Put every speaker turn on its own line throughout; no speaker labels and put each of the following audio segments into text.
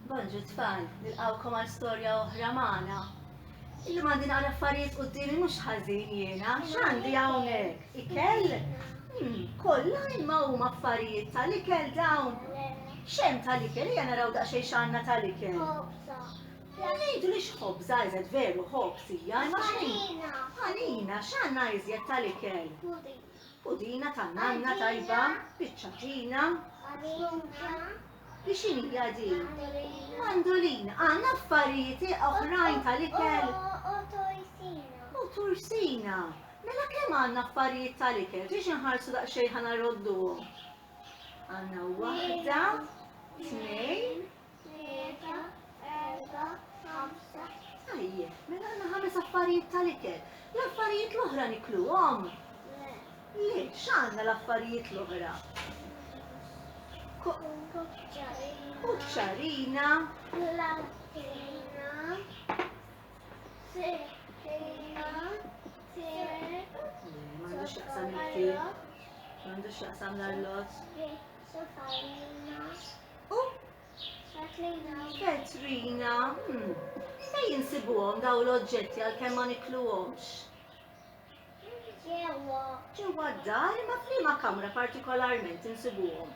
Bonġu tfal, nilqawkom għal storja oħra magħna. Illum għandi naqra affarijiet qudiemi mhux ħażin jiena, x'għandi hawnhekk? Ikel? Hmm, kollha imma huma affarijiet tal-ikel dawn. Xem tal-ikel, hija naraw daqsxejn x'għandna tal-ikel. Ngħidu li x'ħobża iżed veru ħobż hija, imma x'ħanina. Ħanina, x'għandna iżjed tal-ikel? Pudina tan-nanna tajba, biċċatina. Hi x'inhija din? Mandolin, għan affarijiet oħrajn tal-ikel? O torsina. O torsina. Mela kemm għandna affarijiet tal-ikel? Tridx inħarsu daqsxejn ħana rodduhom. Għandna waħda, tnejn, tlieta, erba, ħamsa. Tajjeb, mela għandna ħames affarijiet tal-ikel. L-affarijiet l-oħra nikluhom? Le, x'għandna l-affarijiet l-oħra? U ċċarina. M'għandux x'jaqsam il-ktieb. M'għandux x'jaqsam l-arloġġ. U Katrina, hmm, fejn insibuhom dawn l-oġġetti għalkemm ma nikluhomx? Ġewwa. Ġewwa d-dar, imma f'liema kamra partikolarment insibuhom?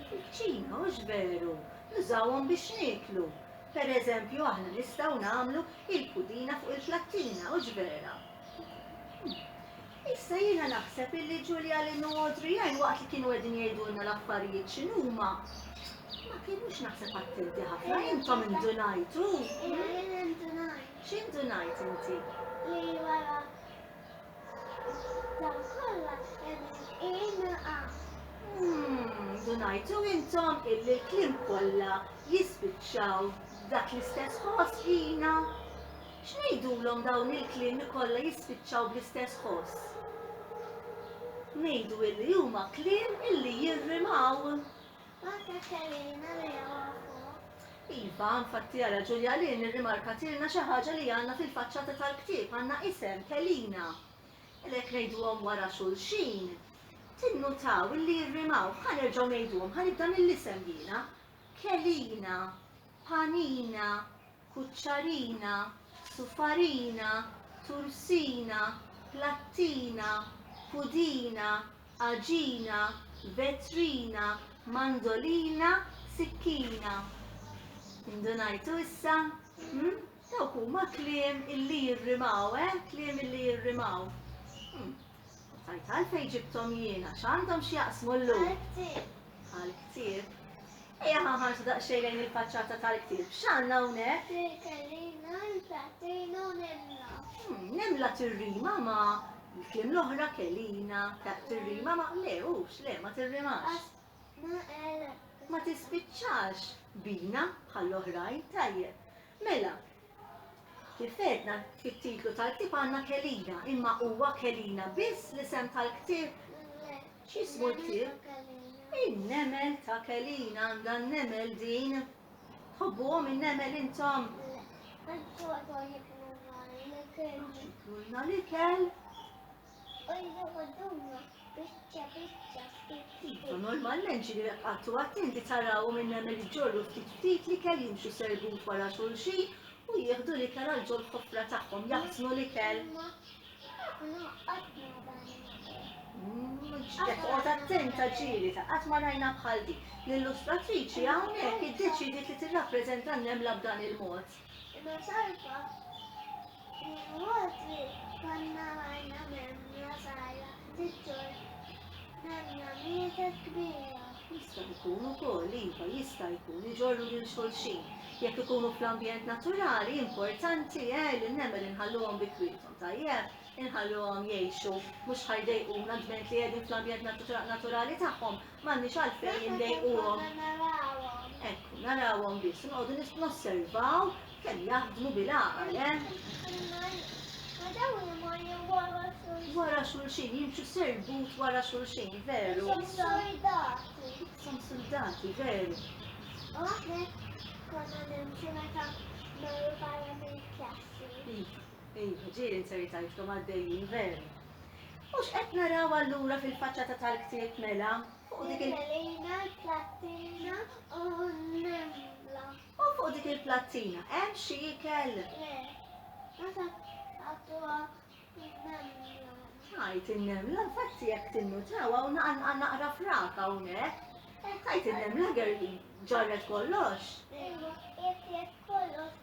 Fil-kċina, hux veru? Nużawhom biex nieklu. Per eżempju, aħna nistgħu nagħmlu il-pudina fuq il-plattina, hux vera? Issa jiena naħseb illi Ġulja, Lynn u Adrian waqt li kienu qegħdin jgħidulna l-affarijiet x'inhuma, ma kinux naħseb attenti ħafna, intom indunajtu? Jiena indunajt. X'intu ngħid inti? Li wara
dan kollha hemm il-qiegħma. Umm,
ndunajtu intom illi l-kliem kollha jispiċċaw f'dak l-istess ħoss, Ina? X'ngħidulhom dawn il-kliem li kollha jispiċċaw bl-istess ħoss? Ngħidu illi huma kliem illi jirrimaw. Iva, infatti jara Ġulja Lin irrimarkatilna xi ħaġa li għandna fil-faċċata tal-ktieb, għandna isem, Kelina. Għalhekk ngħiduhom wara xulxin. Tinnutaw illi jirrimaw, ħa nerġgħu ngħiduhom, ħa nibda mill-isem jiena. Kelina, Panina, kuċċarina, sufarina, tursina, plattina, pudina, għaġina, vetrina, mandolina, sikkina. Indunajtu issa? Hm? Dawk huma kliem illi jirrimaw, eh? Kliem illi jirrimaw. Hm. Stajt għalfejn ġibthom jiena, x'għandhom x'jaqsmu llum? Għall-ktieb. Għall-ktieb. Ejja ħanħarsu daqsxejn lejn il-faċċata tal-ktieb. X'għandna hawnhekk? Tirkellina,
niprattina u nimla. Hmm, nimla
tirrima ma l-klim l-oħra kellina, tirrima ma le, ux, le, ma tirrimax. Ma tispiċċax bina bħall-oħrajn, tajjeb. Mela, Kif għedna, fit-titlu tal-ktieb għandna Kelina, imma huwa Kelina biss l-isem tal-ktieb? X'ismu l-ktieb? In-nemel ta' Kelina għandha n-nemel din. Tħobbuhom in-nemel intom? Kulna li kell. Ejjew għadduna biċċa biċċa ftit ftit. U normalment xi jekk qattu attenti taraw minn hemm li ġorru ftit ftit li kell jimxu serbut wara xulxin u jieħdu li kell għal ġol ħofra tagħhom jaħsnu li kell. Toqgħod attenta ġieli ta' qatt ma rajna bħal din. L-illustratriċi hawnhekk iddeċidiet li tirrappreżenta n-nemla b'dan il-mod. Imma
talba u l-wodri konna għajna memja sajra tiġġor memja mietet kbira. Jista' jkun
ukoll iva jista' jkun iġorru lil xulxin. Jekk ikunu fl-ambjent naturali importanti eh li nemel inħalluhom bi kwietom tajjeb, inħalluhom jgħixu mhux ħajdejquna dment li qegħdin fl-ambjent naturali tagħhom M'għandniex għalfejn inlejquhom. Ekku, narawhom biss, noqogħdu nis nosservaw kemm jaħdmu bil-għaqal, eh? Wara xulxin, jimxu serbut wara xulxin, veru? Som soldati. Som soldati, veru. U għahnek
konna nimxu meta marru barra mill-klassi. Iva, ġieli
nserri tajtkom għaddejjin veru. U x'qed naraw allura fil-faċċata tal-ktieb mela? Fuq dik il- Lejna l-plattina
u l-nembla. U fuq dik
il-plattina hemm xi ikel? Le,
ma sa għadduha l-nembla. Tajt
in-nemla, infatti jekk tinnutaw hawn naqa' naqra frak hawnhekk. Tajt in-nemla ger ġarret kollox. Iva, jekk
jekk kollox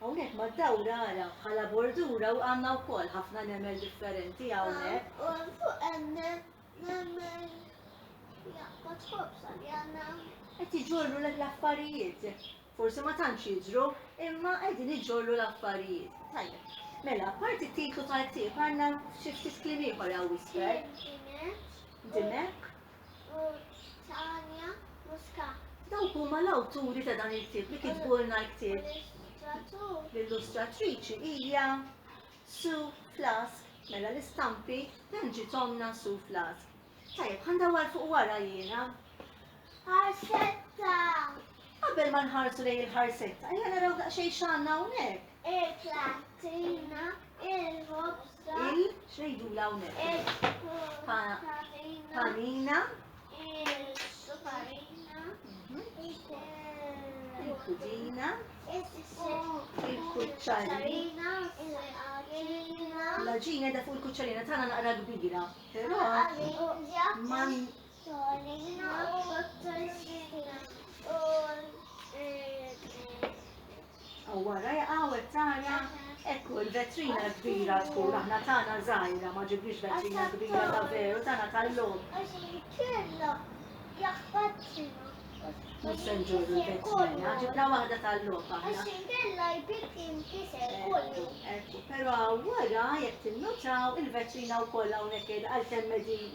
Hawnhekk mad-dawra ara bħala bordura u għandna wkoll ħafna nemel differenti hawnhekk. U fuq hemm
nemel jaqbad ħobsa li għandna. Qed iġorru
lek l-affarijiet. Forsi ma tantx jiġru, imma qegħdin iġorru l-affarijiet. Tajjeb. Mela, parti t-titlu tal-ktieb għandna xi ftit kliem ieħor hawn wisfer. Dimek. u
Tania Muscat. Dawk huma
l-awturi ta' dan il-ktieb li kitbulna l-ktieb.
L-illustratriċi
hija Sue Flask. Mela l-istampi dan ġitomna Sue Flask. Tajjeb, ħandawar fuq wara jiena. Għaxetta!
Qabel ma
nħarsu lejn il-ħarsetta, ejja naraw daqsxejn x'għandna hawnhekk. Il-klatina,
il-ħobża. Il x'ngħidula
hawnhekk? Il-panina. Il-suparina. Il-kudina. Il-kuċċarina.
Il-ħaġina. L-ħaġina da
fuq il-kuċċarina tagħna naqra kbira. Però. Wara jaqaw it-tana, ekku l-vetrina kbira tkun aħna tana żgħira ma ġibniex vetrina kbira ta' veru tana tal-lum. Mhux se nġorru l-vetrina, ġibna waħda tal-lum aħna. Ekku, però wara jekk tinnotaw il-vetrina wkoll hawnhekk għal kemm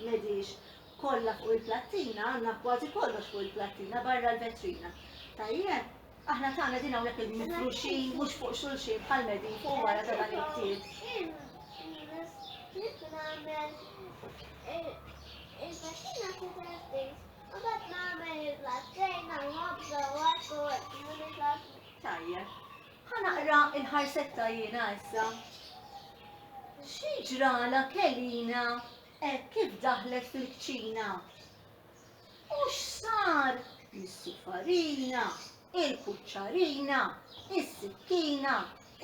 medix Kollha fuq il-plattina, għandna kważi kollox fuq il-plattina barra l-vetrina. Tajjeb? Aħna tagħna din hawnhekk il-mifruxin mhux fuq xulxin bħal medin fuq wara ta' dan it-tiet. Tajjeb. Ħanaqra il-ħarsetta jiena issa. Xi ġrala kelina Hekk kif daħlet fil-kċina. U x'sar? Missu farina, il-kuċċarina, is-sikkina,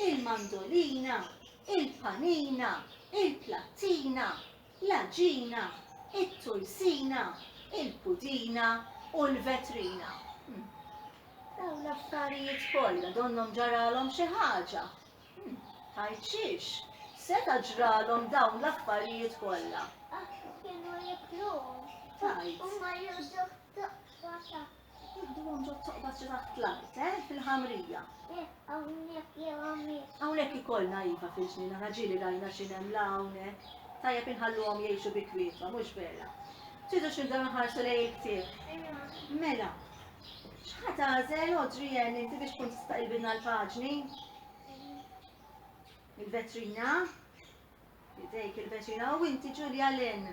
il-mandolina, il-panina, il-plattina, l-għaġina, it-tulsina, il-pudina u l-vetrina. Dawn l-affarijiet kollha donnhom ġaralhom xi ħaġa Hm, tgħid xiex? Seta' ġralhom dawn l-affarijiet kollha? Għax kienu jikluhom. Tgħid. U marru ġo toqba ta' Jidduhom ġo toqba ġo taħt l-art, eh, fil-ħamrija. Eh, hawnhekk jew hawnhekk. Hawnhekk ikollna iva fil-ġnina, raġili rajna x'in hemm la hawnhekk. Tajjeb inħalluhom jgħixu bi kwietwa, mhux vera. Tridux nibdew nħarsu lejn il-ktieb. Mela, x'ħa tagħżel Audrey Ann inti biex tkun tista' ilbidna l-paġni? Il-vetrina. Idejk il-vetrina u inti Ġulja Len.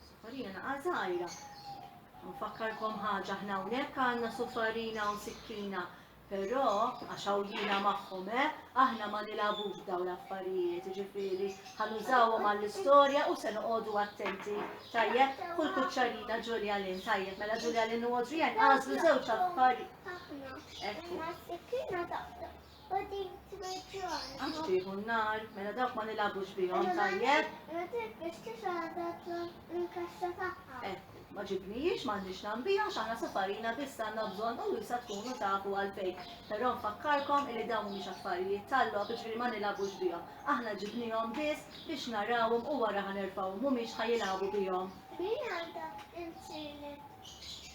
Sofarina naqa' żgħira. Nfakkarkom ħaġa ħna hawnhekk għandna sofarina u sikkina. Però għax jiena magħhom eh, aħna ma nilagħbux dawn l-affarijiet, ġifieri ħanużawhom għall-istorja u se noqogħdu attenti. Tajjeb, kull kuċċarina Ġulja Len, tajjeb, mela Ġulja Len u Adrian għażlu żewġ affarijiet. Aħna, imma s-sikkina taqta' u din twiġġon. Għax tieħu n-nar, mela dawk ma nilagħbux bihom tajjeb. Ma tibqiex tixgħadha l-kaxxa tagħha. Ekku, eh, ma ġibnijiex m'għandix nambija għax aħna safarina biss għandna bżonn u jisa tkunu tafu għalfejn. Però nfakkarkom li dawn mhumiex affarijiet tal-logħob, ġifieri ma nilagħbux bihom. Aħna ġibnihom biss biex narawhom u wara ħanerfgħuhom mhumiex ħajilagħbu bihom. Min għandha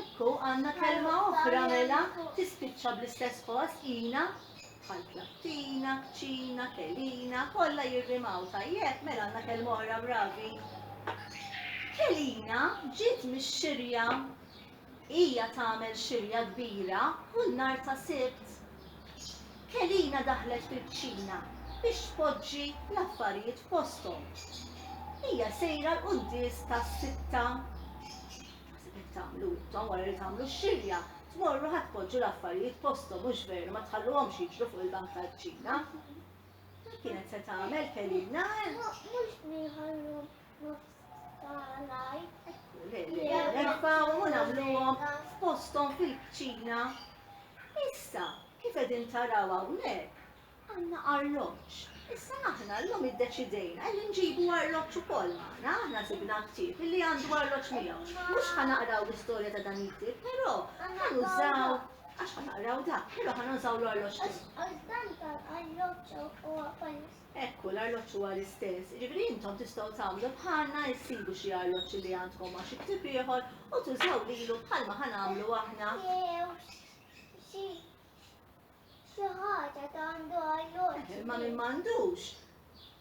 Ekku,
għandna kelma oħra mela, tispiċċa bl-istess post, ina, bħal klattina, kċina, kelina, kollha jirrimaw, tajjeb, mela għandna kelma oħra bravi. Kelina ġiet mix-xirja hija tagħmel xirja kbira u n-nar ta' sibt. Kelina daħlet fil-kċina biex tpoġġi l-affarijiet f'posthom. Hija sejra l-quddies tas-sitta. Naħseb hekk tagħmlu intom wara li tagħmlu x-xilja, tmorru ħa tpoġġu l-affarijiet posthom hux veru ma tħalluhomx jiġru fuq il-bank tal-kċina. Kienet se tagħmel kelina. Mhux li
ħallu nofs tal-għaj. Le, le,
nerfgħu u nagħmluhom f'posthom fil-kċina. Issa, kif qegħdin taraw hawnhekk, Għandna arloġġ. Issa aħna llum iddeċidejna illi nġibu arloġġ ukoll magħna. Aħna sibna ktieb illi għandu arloġġ miegħu. Mhux ħa naqraw l-istorja ta' dan il-ktieb, però ħa nużaw, għax ħa naqraw dak, però ħa nużaw l-arloġġ tiegħu. Għax dan tal-arloġġ
huwa ukoll l-istess. Ekku, l-arloġġ
huwa l-istess. Jiġifieri intom tistgħu tagħmlu bħalna, issibu xi arloġġ illi għandkom ma' xi ktieb ieħor u tużaw lilu bħalma ħa nagħmlu aħna. Jew
xi Xi ħaġa ta' għandu arloġġ. Imma min m'għandux,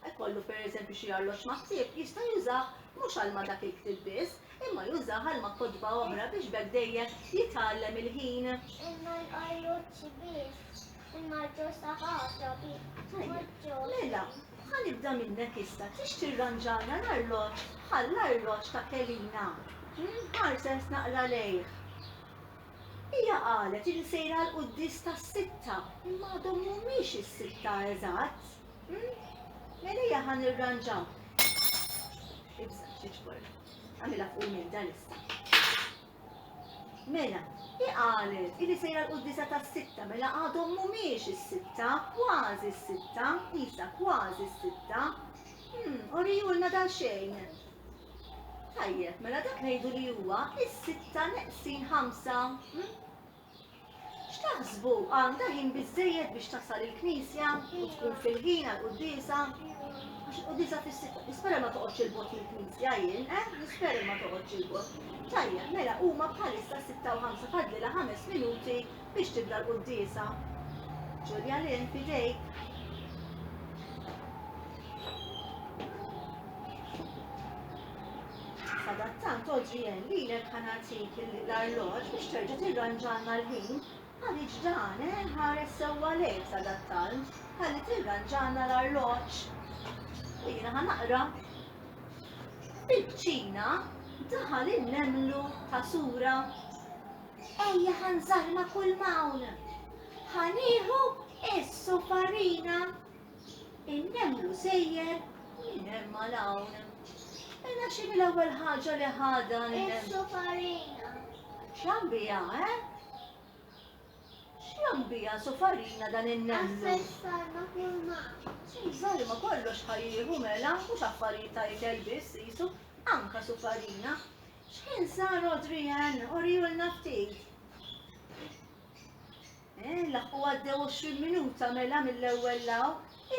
ikollu pereżempju xi arloġġ ma' ktieb, jista' jużah mhux għal ma' dak il-ktieb biss, imma jużah għal ma' kotba oħra biex b'hekk dejjem jitgħallem il-ħin.
Imma l-arloġġ biss, imma ġo saħaħra
biss. Mela, ħa nibda minnek issa, trix tirranġalna l-arloġġ bħall-arloġġ ta' Kelina? Ħares naqra lejh. Hija qalet illi sejra għall-quddies tas-sitta imma għadhom mhumiex is-sitta eżatt. Mela ejja ħa nirranġaw. Ibża' xi ġbor. Għamilha fuq il-mejda lista. Mela, hi qalet illi sejra l-quddiesa tas-sitta mela għadhom mhumiex is-sitta, kważi s-sitta, isa kważi s-sitta. Hmm, oriju lna dal xejn. Tajjeb, mela dak ngħidu li huwa is-sitta neqsin ħamsa. Hm? X'taħsbu għandha ħin biżejjed biex tasal il-knisja u tkun fil-ħin għal qudiesa? Għax qudiesa fis-sitta, nispera ma toqgħodx il-bot mill-knisja jien, eh? Nispera ma toqgħodx il-bot. Tajjeb, mela huma bħalissa sitta u ħamsa fadlilha ħames minuti biex tibda l-quddiesa. Ġulja Lynn fidejk. Sadattant oġġi jen lilek ħanatik l-arloġ biex terġa' tirranġalna l-ħin. Ħalli ġdan, eh, ħares sewwa lejk sadattant, ħalli tirranġalna l-arloġ. U jiena ħanaqra. Bil-kċina daħal in-nemlu ta' sura Ejja ħa nżarma kull mawl. Ħa nieħu issu farina. In-nemlu sejjer minn hemm għal hawn. Illa xi mill-ewwel ħaġa li ħadha Issu farina.
X'għam
biha, eh? X'għam biha su farina dan in-nemlu? Affessarna kull
mawl. Żarma
kollox ħajjieħu mela mhux affarijiet ta' ikel biss qisu anka su farina. X'kien sar Adrian? Orihulna ftit. Eh, laħqu għaddew 20 minuta mela mill-ewwel law,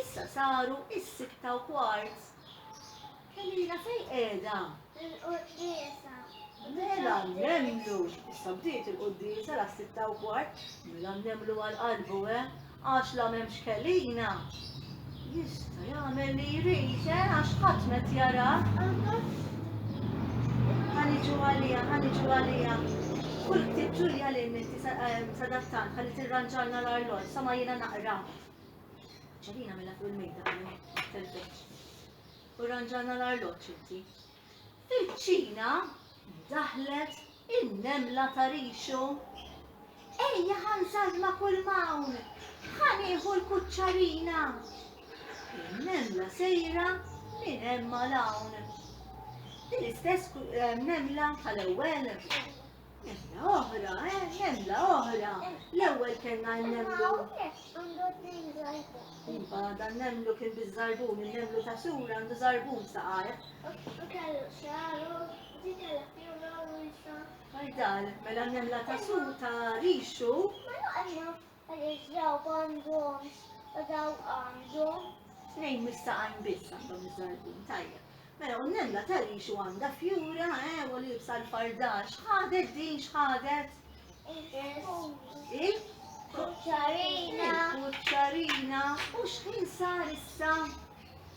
issa saru is-sitta u kwart. Kelina fej qiegħda?
Il-quddiesa.
Mela nemmlu, issa bdiet il-quddiesa la sitta u kwart, mela nemmlu għal qalbu eh, Għax la m'hemmx kellina, jista' jagħmel li jrid, eh, għax ħadd m'qed jarah. Ħa niġu għalija, ħa niġu għalija. Kull ktieb Ġulja li minti sadattan eh, ħalli tirranġalna l-arloġġ sa ma jiena naqra. Ċelina mela fuq il-mejda telfeċ. U ranġalna l-arloġġ inti. Iċ-Ċina daħlet in-nemla ta' rixu. Ejja ħa nżarma kull m'hawn, ħa nieħu l-kuċċarina. In-nemla sejra minn hemm għal hawn. Din istess eh, nemla tal-ewwel Emmla oħra, eh, emmla oħra. L-ewwel kellna n-nemlu. Iva, dan nemlu kien biż-żarbun, il-nemlu ta' sura għandu żarbun saqajh. Għajdal, mela n-nemla ta' sura ta' rixu. Għaliex daw għandhomx u daw għandhom. Tnejn mistaqajn biss għandhom iż-żarbin tajjeb. Mela, u nemla tal-lixu għandha fjura, eh, u li jibsa l-fardax. Xħadet din, xħadet? Il? Kuċċarina. Kuċċarina. U xħin sar issa?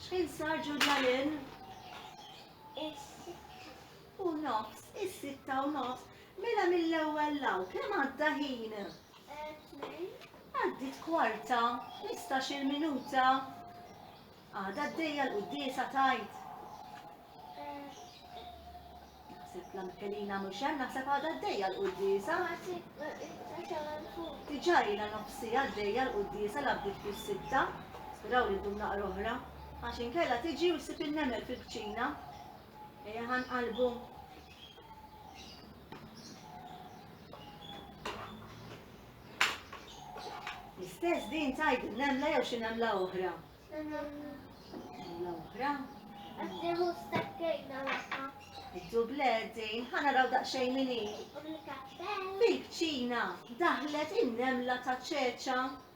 Xħin sar ġurnalin? U nofs, is-sitta u nofs. Mela mill-ewwel law, kemm għadda ħin? Għaddiet kwarta, mistax-il minuta, għadha għaddejja l-quddiesa tgħid. Naħseb la Mikelina mhux hemm, naħseb għadha għaddejja l-quddiesa. Diġà ilha nofsi għaddejja l-quddiesa la bdiet fis-sitta, speraw li ddum naqra oħra, għax inkella tiġi u ssib in-nemel fil-kċina. Ejja ħanqalbu. L-istess din tajt nemla jew xi nemla oħra? Nemla oħra? Għaddeħu stakkejna laħħa. Id-dubled din ħana raw daqxej minni. Bil-kċina daħlet in-nemla ta' ċeċa.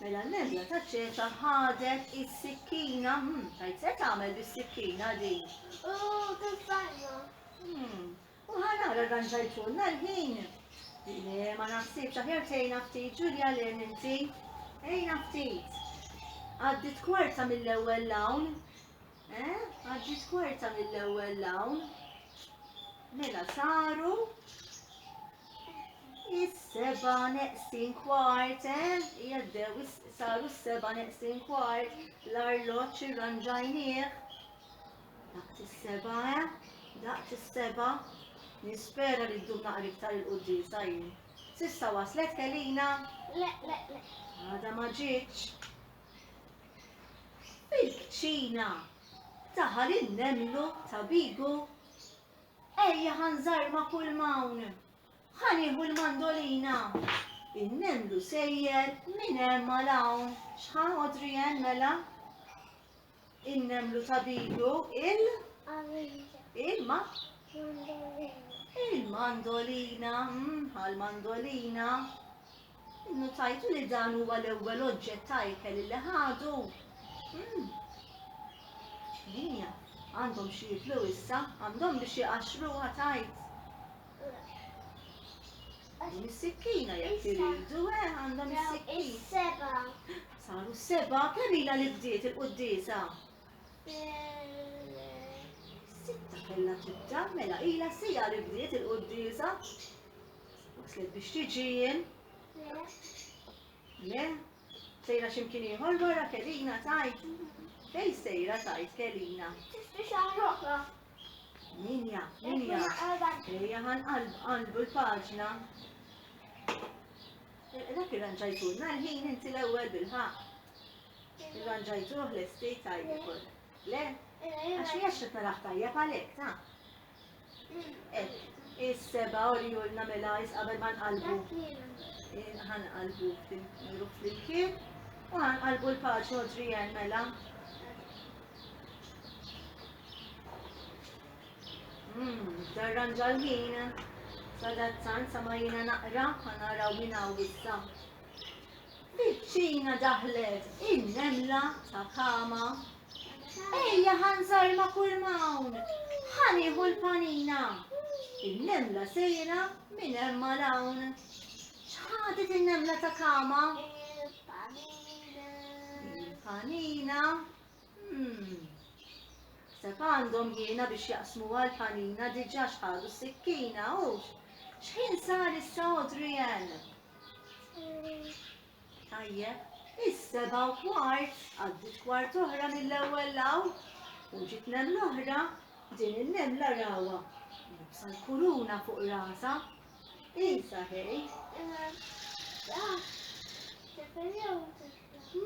Mela l-għemla ta' ċeċa ħadet is-sikkina, tajt se tagħmel bis-sikkina din? U tuffarju. U ħanara dan ġajtulna l-ħin. Le, ma naħsibx aħjar tgħinha ftit Ġulja le inti. Ejna ftit. Għaddit kwarta mill-ewwel lawn. Eh, għaddiet kwarta mill-ewwel lawn. Mela saru is-seba' neqsin kwart, eh? Jaddew saru s-seba' neqsin kwart, l-arloġġ irranġajnieh. Daqt is-seba', eh? Daqt is-seba' nispera li ddum naqra iktar il-qudiem sajjin. Sissa waslet kelina?
Le, le, le. Għada
ma ġietx. Fil-kċina ta' Ħal in-Nemlu ta' Bigu, Ejja ħa nżarma kull m'hawn, ħa nieħu l-mandolina. In-Nemlu sejjer minn hemm għal hawn, x'ħa Adrian mela? In-nemlu tabidu il? Għamilja. Il-ma? Mandolina. Il-mandolina, mm, għal-mandolina. Innutajtu li dan huwa l-ewwel oġġett ta' ikel li ħadu. Mm. Ċknija, għandhom xi jiklu issa, għandhom biex jqaxxruha tajt. Mis-sikkina jekk iridu, eh, għandha mis-sikkina. Seba. Saru seba, kemm ilha li bdiet il-quddiesa? Sitta kellha tibda, mela ilha sija li bdiet il-quddiesa. Waslet biex tiġi jien. Le. Le. Sejra x'imkien ieħor wara Kelina tgħid. Fejn sejra tgħid Kelina? Tixtri xi ħaġa oħra? Min jaf, min jaf. Ejja ħan qalbu l-paġna. Dak irranġajtulna l-ħin inti l-ewwel bil-ħaq. Irranġajtuh l-estate tajjeb. Le? Għax hija xi taraħ tajjeb għalhekk ta'. Is-seba u li jurna mela jis qabel ma nqalbu. Ħan qalbu fil-ruħ fil-kien. U ħan qalbu l-paċi u drijen mela. Hmm, darranġa l-ħin. Sadazzan sa ma jina naqra ħanara u jina u issa. Biċċina daħlet in-nemla ta' kama. Ejja ħa nżarr ma' kull m'hawn, ħa nieħu l-panina, in-nemla sejra minn hemm għal hawn. X'ħadet in-nemla ta' kama? Il-panina. Hmm. Seb għandhom jiena biex jaqsmu għal panina diġa xħadu s-sikkina, ux? Xħin sar issa Adrian? Tajjeb, is-sebgħa u kwart għaddiet kwart oħra mill-ewwel law u ġiet nemla oħra, din in-nemla rawha, libsa l-kuruna fuq rasha. Insa ħej.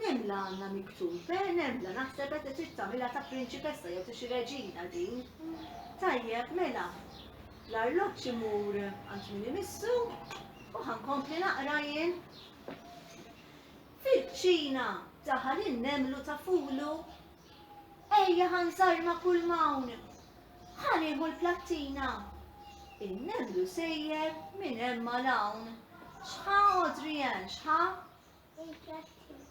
Nemla għandna miktub, eh, nemla naħseb qed trid tagħmilha ta' prinċipessa jew ta' xi reġina din. Tajjeb, mela, l-arloġġ imur għand min imissu u ħankompli naqra jien. Fil-kċina ta' Ħal in-Nemlu ta' Fulu, Ejja ħa nsarma' kull m'hawn, ħa nieħu l-plattina, In-Nemlu sejjer minn hemm għal hawn, X'ħa għodri hemm, x'ħa? Il-plattina.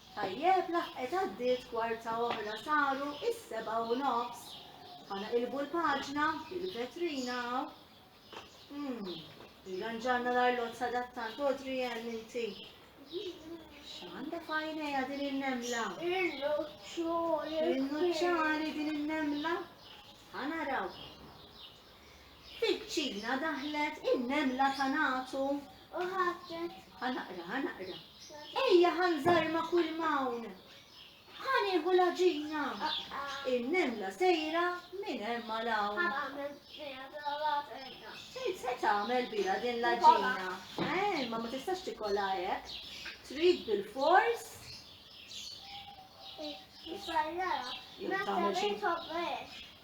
Tajjeb laħqet għaddiet kwarta oħra saru is-sebgħa u nofs. Ħanaqilbu l-paġna fil-vetrina hawn. Hmm, irranġanna l-arlott sadattant Audrey Ann inti. X'għandha fajnejha din in-nemla? Il-nuċċari. Il-nuċċari din in-nemla? Ħanaraw. Fiċ-ċina daħlet in-nemla ta' nagħtu. U ħabbtet. Ħa naqra, ħa naqra. Ejja ħa nżarma kull m'hawn. Ħa nieħu l-għaġina. In-nemla sejra minn hemm għal hawn. Se tagħmel biha din l-għaġina. Eh, ma ma tistax tikolha hekk. Trid bil-fors.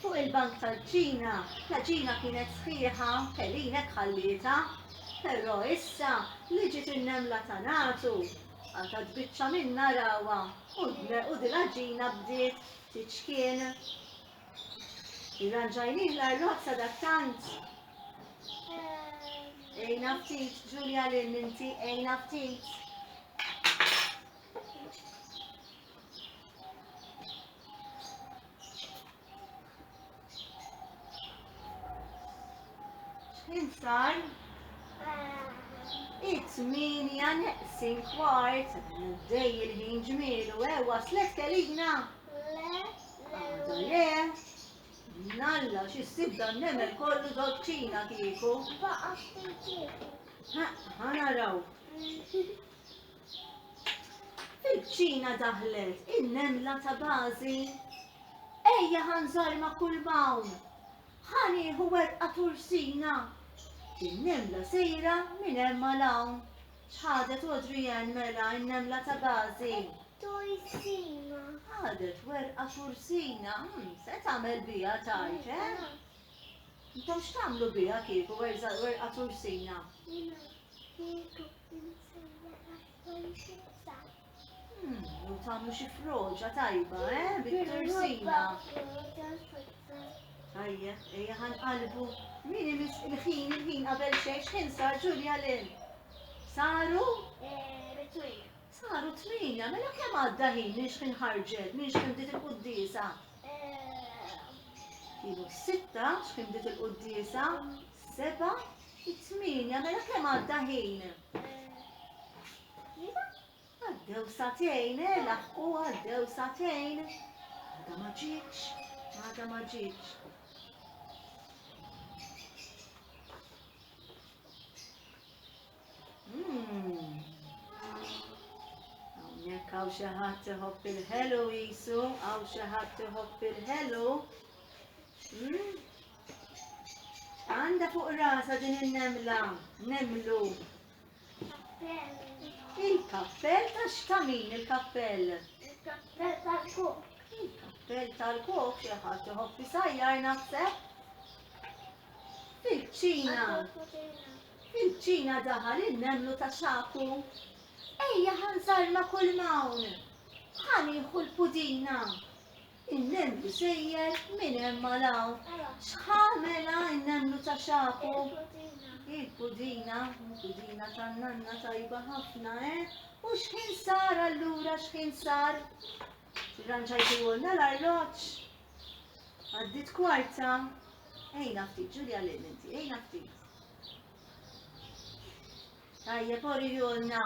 Fuq il-bank tal-bġina, l-għaġina kienet sħiħa, Pelinek ħallietha. Però issa li ġiet in-nemla ta' nagħtu, qatgħet biċċa minnha rawha u dil-għaġina bdiet tiċkien. Irranġajnih l-arrott sadattant. Għinha ftit, Ġulja Lynn inti, għinha ftit. Insar. It's minja neqsin kwart. Dej il-ħin ġmielu. E waslet kelina. Għada le. Nalla xi ssib dan nemel kollu dolċina kieku. Ħana raw. Fil-kċina daħlet in-nemla ta' Gazi. Ejja ħa nżarma kull m'hawn. Ħa nieħu werqa tursina. In-nemla sejra minn hemm għal hawn. X'ħadet Adrienne mela in-nemla ta' Gazi? Tursina. Ħadet werqa tursina. Hmm, se tagħmel biha tgħid, eh? Intom x'tagħmlu biha kieku werqa tursina? Jiena kieku U tagħmlu xi froġa tajba, eh, bit-tursina. Tajjeb, ejja ħanqalbu. Min imis il-ħin, il-ħin qabel xejn, x'ħin sar Ġulja lil? Saru? Saru tminja, mela kemm għadda ħin minn x'ħin ħarġet, minn x'ħin bdiet il-quddiesa? Ilu sitta, x'ħin bdiet il-quddiesa? Seba, It-tmienja, mela kemm għadda ħin? Iva, għaddew satejn, eh, laħqu għaddew satejn. Għada ma ġietx, għada ma ġietx. Hmm. Hawnhekk hawn xi ħadd iħobb il-ħelu jisu, hawn xi ħadd iħobb il-ħelu. Hmm? Għandha fuq rasa din in-nemla, nemlu. Il-kappell ta' x'tamin il-kappell?
Il-kappell
tal-kok. Il-kappell tal-kok xi ħadd iħoffi sajjar naħseb. Fil-ċina. Fil-ċina daħal in-nemlu ta' xaku. Ejja ħanżar ma' kull mawn. Ħaniħu l-pudina. In-nemlu sejjer minn hemm għal hawn. X'ħa mela n-nemlu ta' xagħku? Il-pudina. Il-pudina tan-nanna tajba ħafna, eh? U x'ħin sar allura, x'ħin sar? Irranġajtuhulna l-arloġġ. Għaddiet kwarta. Ejna ftit, Ġulja lil inti, ejna ftit. Tajjeb, orihulna.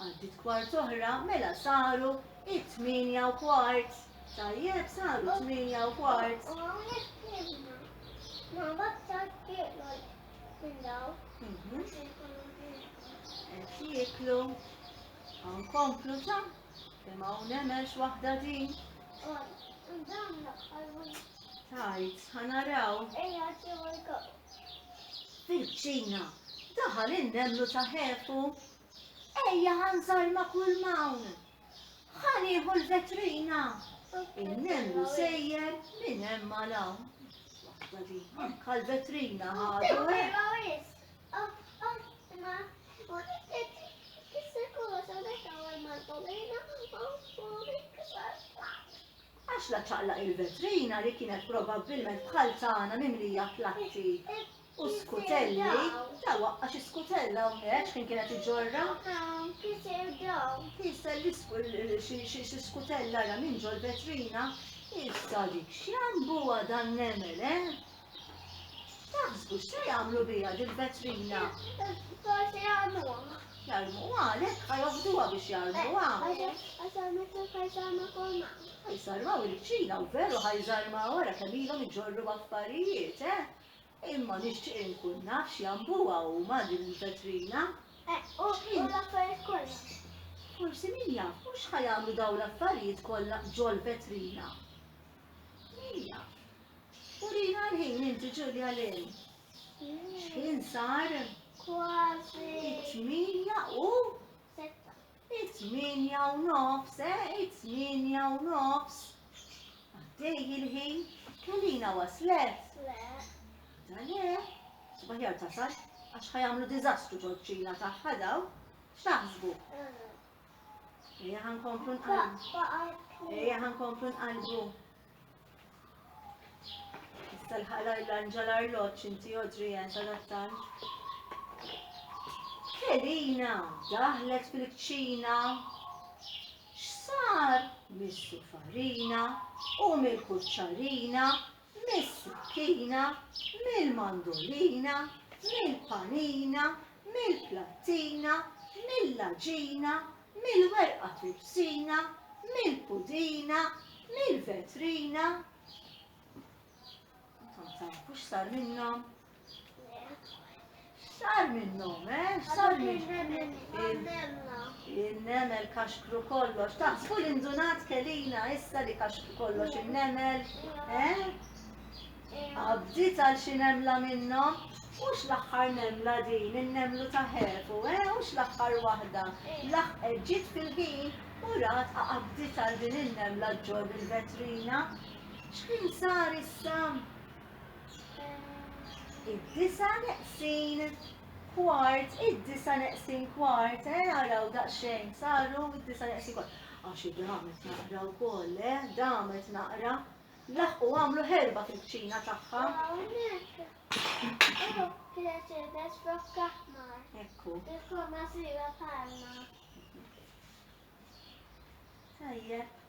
Għaddiet kwart oħra, mela saru it-tmienja u kwart. Tajjeb, saru t-tmienja u kwart. U
hawnhekk
tlibna. Ma baktar tieklu minn daw. Mhm. Qed jieklu. Nkomplu ta' kemm hawn hemmx waħda din. Tajt, ħanaraw. Ejja, ġew il-kop. Fil-ċina, daħal in-nemlu ta' ħefu. Ejja ħa nżarr ma' kull m'hawn. Ħa nieħu l-vetrina. In-nemlu sejjer minn hemm għal hawn. Waħda li anke l-vetrina ħadu hemm. Għax la ċaqlaq il-vetrina li kienet probabbilment bħal tagħna mimlija platti. U skutelli, ta' waqqa xi skutella hawnhekk x'kien kienet iġorra? Hawn, kiser daw. Kiser xi skutella ra minn ġol vetrina. Issa dik x'jambuha dan nemel, eh? Taħsbu x'se jagħmlu biha din vetrina? Forsi jarmuha. Jarmuha għalhekk ħa joħduha biex jarmuha. Għaxar metru ħajsarma kolma. Ħajsarmaw il-kċina u veru ħajsarma wara kemm ilhom iġorru affarijiet, eh? Imma nixtieq inkun naf x'jambuha huma din il-vetrina. Eħ, u u l-affarijiet kollha. Forsi min jaf, u x'ħa jagħmlu dawn l-affarijiet kollha ġol-vetrina? Min jaf. Urina l-ħin inti, Ġulja Lynn. X'ħin sar? Kważi.
It-tmienja u? Sitta.
It-tmienja u nofs, eh, it-tmienja u nofs. Għaddej il-ħin, Kelina waslet? Le. Da le, subaħjar tasal, għax ħajamlu dizastru ġoċċina taħħa daw, x'taħsbu? Ejja ħankomplu nqalbu. Ejja ħankomplu nqalbu. Tal-ħalajlanġa l-arloġġ inti Adrian tal-attant. Elina, daħlet fil-kċina. X'sar? Missu farina u mill-kuċċarina, mis-sukkina, mill-mandolina, mill-panina, mill-plattina, mill-laġina, mill-werqa tripsina, mill-pudina, mill-vetrina. Intom tafu x'sar minnhom? X'sar minnhom, eh? X'sar Il-nemel kaxkru kollox. Taħsbu l-indunat kelina issa li kaxkru kollox il-nemel, eh? Għaddit għal xi nemla minnhom? Hux l-aħħar nemla din, in-nemlu ta' ħefu, eh, hux l-aħħar waħda. Laħqet ġiet fil-ħin u rat għaddit għal din in-nemla ġġorr il-vetrina. X'kien sar issa? Id-disa neqsin kwart, id-disa neqsin kwart, eh, għaraw daqxejn, saru id-disa neqsin kwart. Għaxi damet naqra u koll, eh, damet naqra. Laħqu għamlu ħerba fil-kċina tagħha. Hawnhekk. Hu Mercedes flok aħmar. Ekku. Bil-forma sira bħalna. Tajjeb.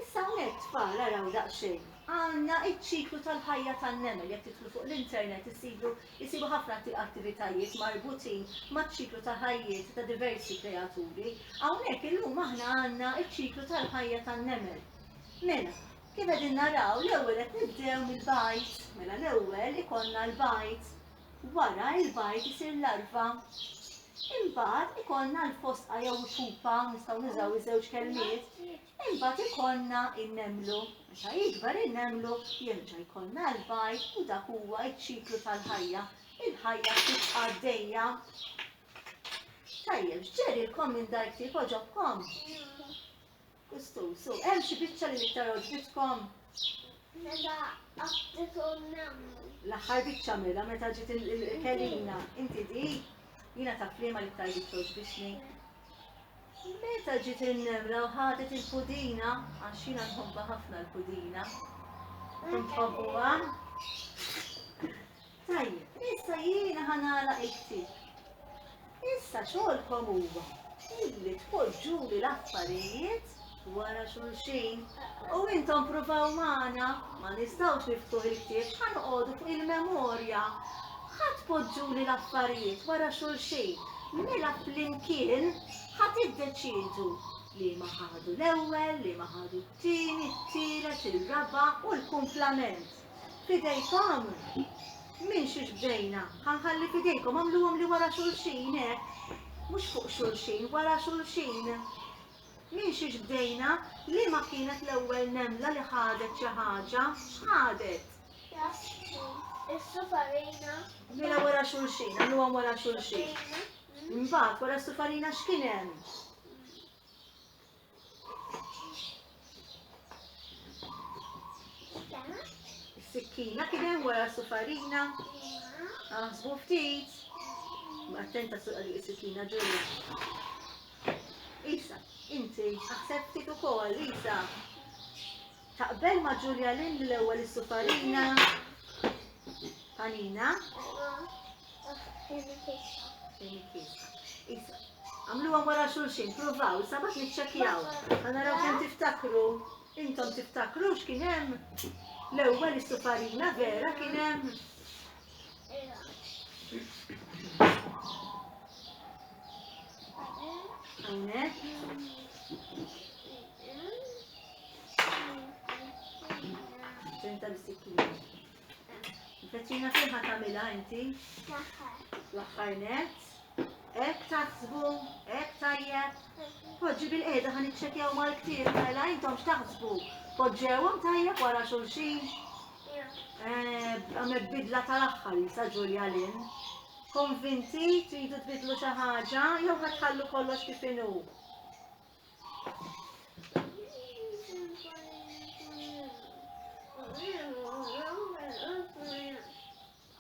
Issa hawnhekk tfal araw daqsxejn. Għandna iċ-ċiklu tal-ħajja tan-nemel jekk tidħlu fuq l-internet isibu isibu ħafna attivitajiet marbutin maċ-ċiklu ta' ħajjiet ta' diversi kreaturi. Hawnhekk illum aħna għandna iċ-ċiklu tal-ħajja tan-nemel. Mela, kif qegħdin naraw, l-ewwel qed nibdew mill-bajd. Mela l-ewwel ikollna l-bajd. Wara l-bajd isir larva. Imbagħad ikollna l-fosqa jew il-pupa, nistgħu nużaw iż-żewġ kelmiet. Imbagħad ikollna n-nemmlu. Meta jikber in-nemmlu jerġa' jkollna l-bajd u dak huwa ċ-ċiklu tal-ħajja. Il-ħajja tibqa' għaddejja. Tajjeb, x'ġerilkom minn dar ktieb għoġobkom? Kustum, so, hemm xi biċċa li l-iktar għoġbitkom? Meta
għabdet u nammu. L-aħħar biċċa
mela meta ġiet il-kelina, inti di, jiena ta' flima li iktar biċċa għoġbitni. Meta ġiet il-nemra u ħadet il-pudina, għax jiena nħobba ħafna l-pudina. Tum tħobbuha? Tajjeb, issa jiena ħa nagħlaq il-ktieb. Issa xogħolkom huwa illi tpoġġuli l-affarijiet wara xulxin. U intom provaw magħna, ma nistgħux niftuħ il-ktieb, ħa noqogħdu fuq il-memorja. Ħa tpoġġuli l-affarijiet wara xulxin. Mela flimkien ħa tiddeċidu li ma ħadu l-ewwel, li ma ħadu t-tieni, t-tielet, ir-raba' u l-kumplament. F'idejkom! Minn xiex bdejna? Ħa nħalli f'idejkom, għamluhom li wara xulxin, hekk. Mhux fuq xulxin, wara xulxin. Minn xiex bdejna? Liema kienet l-ewwel nemla li ħadet xi ħaġa? X'ħadet?
Is-sufarina. Mela wara
xulxin, għamluhom wara xulxin. Imbagħad wara s-sufarina x'kien hemm? Sikkina kien hemm wara sufarina. Aħsbu ftit. Attenta suq għalik is-sikkina ġurja. Isa, inti aħseb ftit ukoll, Isa. Taqbel ma' Julia Lynn li l-ewwel is-sufarina panina? Għamluha wara xulxin, provaw, sabat niċċekjaw. Għanaraw kemm tiftakru, intom tiftakru x'kien hemm l-ewwel is-sufarina vera kien hemm. Hawnhekk. Ġenta l-sikkina. Feċina fiħa tamila inti? L-axħar net. Ek taħsbu, ek tajjeb. Poġġi bil-qeda ħan iċċekjaw mal-ktir, mela intom x'taħsbu? Poġġewhom tajjeb wara xulxin? Eh, għamel bidla tal-axħar jisa Ġulja Lin. Konvinti, tridu tbidlu xi ħaġa, jew ħatħallu kollox kif inhu.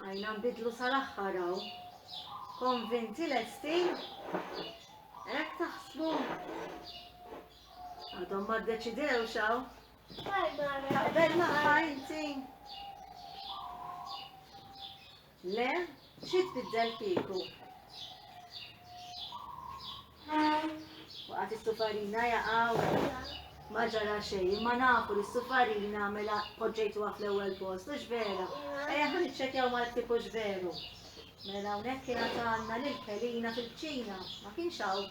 Għajna nbidlu sal-axħar għaw. Konvinti l-esti? Ek taħsbu? Għadhom ma d-deċidew xaw? Għajna, għajna, għajna, Le, xi tbiddel kieku? Waqgħet is-sufarina jaqa' u. Ma ġara xejn, imma nafu li s-sufarina mela poġġejtuha fl-ewwel post, hux vera? Ejja ħa niċċekjaw mal-ktieb hux veru. Mela hawnhekk kien għandna lil Kelina fil-kċina, ma kienx hawn.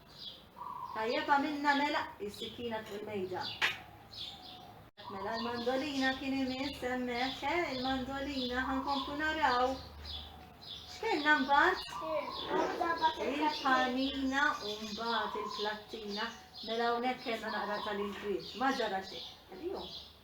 Tajjeb għamilna mela is-sikkina fuq il-mejda. Mela l-mandolina kien imiss hemmhekk, eh, il-mandolina ħankomplu naraw. X'kellna mbagħad? Il-panina u mbagħad il-plattina. Mela hawnhekk kellna naqra tal-inkwiet. Ma ġara xejn.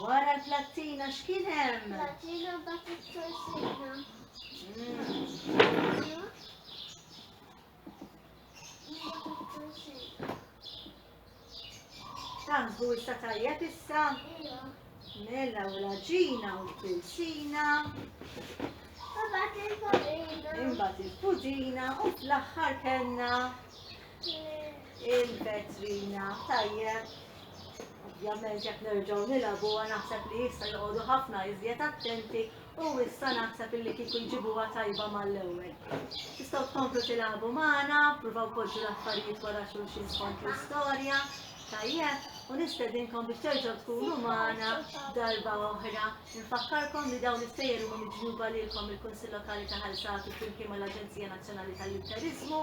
Wara l-plattina x'kien hemm? Plattina mbagħad
it-torsina.
Tangu issa tajjeb issa? Mela u l-ġina u l-pilsina. Imbagħad il-pudina. Imbagħad il-pudina u fl-aħħar kellna Il-vetrina, tajjeb. Ovvjament jekk nerġgħu nilagħbu naħseb li issa joqogħdu ħafna iżjed attenti u issa naħseb illi kieku jġibuha tajba mal-ewwel. Tistgħu tkomplu tilagħbu magħna, pruvaw poġġu l-affarijiet wara xulxin skont l-istorja, tajjeb, u nistedinkom biex terġgħu tkunu magħna darba oħra. Infakkarkom li dawn is-sejjer huma miġjuba lilkom il-Kunsill Lokali ta' Ħalsatu flimkien mal-Aġenzija Nazzjonali tal-Litteriżmu